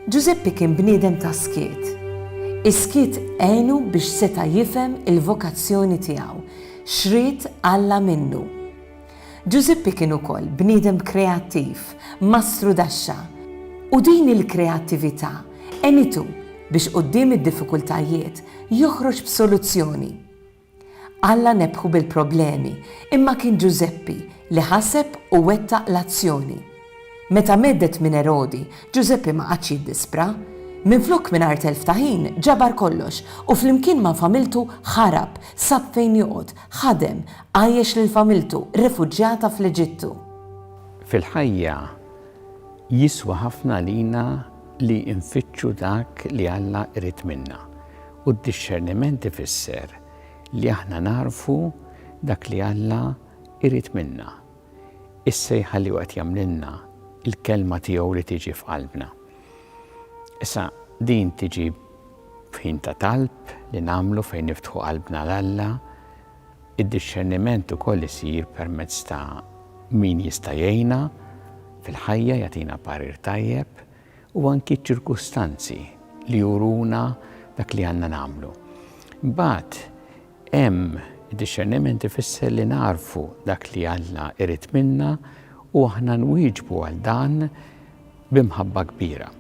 Ġużeppi kien bniedem ta' skiet. Is-skiet għenu biex seta' jifhem il-vokazzjoni tiegħu, x'ried Alla minnu. Ġużippi kien ukoll bniedem kreattiv, mastru daxxa, u din il-kreattività għenitu biex quddiem id-diffikultajiet joħroġ b'soluzzjoni. Alla nebħu bil-problemi imma kien Ġużeppi li ħaseb u wettaq l-azzjoni. Meta mheddet minn Erodi, Ġużeppi ma qagħadx jiddispra. Minflok mingħajr telf ta' ħin ġabar kollox u flimkien ma' familtu ħarab, sab fejn joqgħod, Ħadem, għajjex lil familtu, refuġjata fl-Eġittu. Fil-ħajja, jiswa ħafna għalina li nfittxu dak li Alla jrid minna. U d-dixxerniment ifisser li aħna nagħrfu dak li Alla jrid minna, is-sejħa li hu qed jagħmlilna, il-kelma tiegħu li tiġi f'qalbna. Issa, din tiġi F'ħin ta' talb li nagħmlu fejn niftħu qalbna 'l Alla, id-dixxerniment ukoll isir permezz ta' min jista' jgħinna fil-ħajja, jagħtina parir tajjeb, u anki ċ-ċirkustanzi li juruna dak li għandna nagħmlu. Imbagħad, Hemm, id-dixxerniment ifisser li nagħrfu dak li Alla jrid minna u aħna nwieġbu għal dan bi mħabba kbira.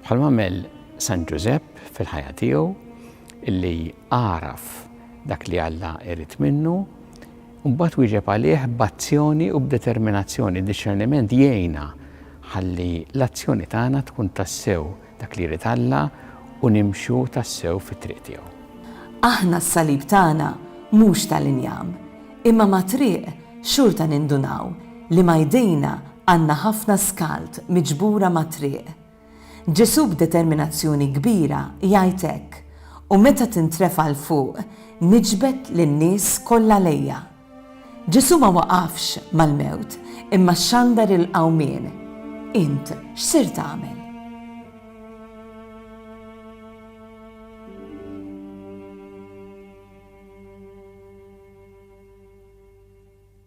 Bħalma għamel San Ġużepp fil-ħajja tiegħu, illi għaraf dak li Alla jrid minnu, mbagħad wieġeb għalih b'azzjoni u b'determinazzjoni. Id-dixxerniment jgħinna ħalli l-azzjoni tagħna tkun tassew Dak li jrid Alla u nimxu tassew fit-triq tiegħu. Aħna s-salib tagħna mhux tal-injam, imma mat-triq xorta nindunaw li ma' jdejna għandna ħafna skald miġbura mat-triq. Ġesù b'determinazzjoni kbira jgħid hekk, U meta tintrefa' 'l fuq, niġbed lin-nies kollha lejja. Ġesù ma waqafx mal-mewt, imma xandar il-qawmien. Int x'sirt tagħmel?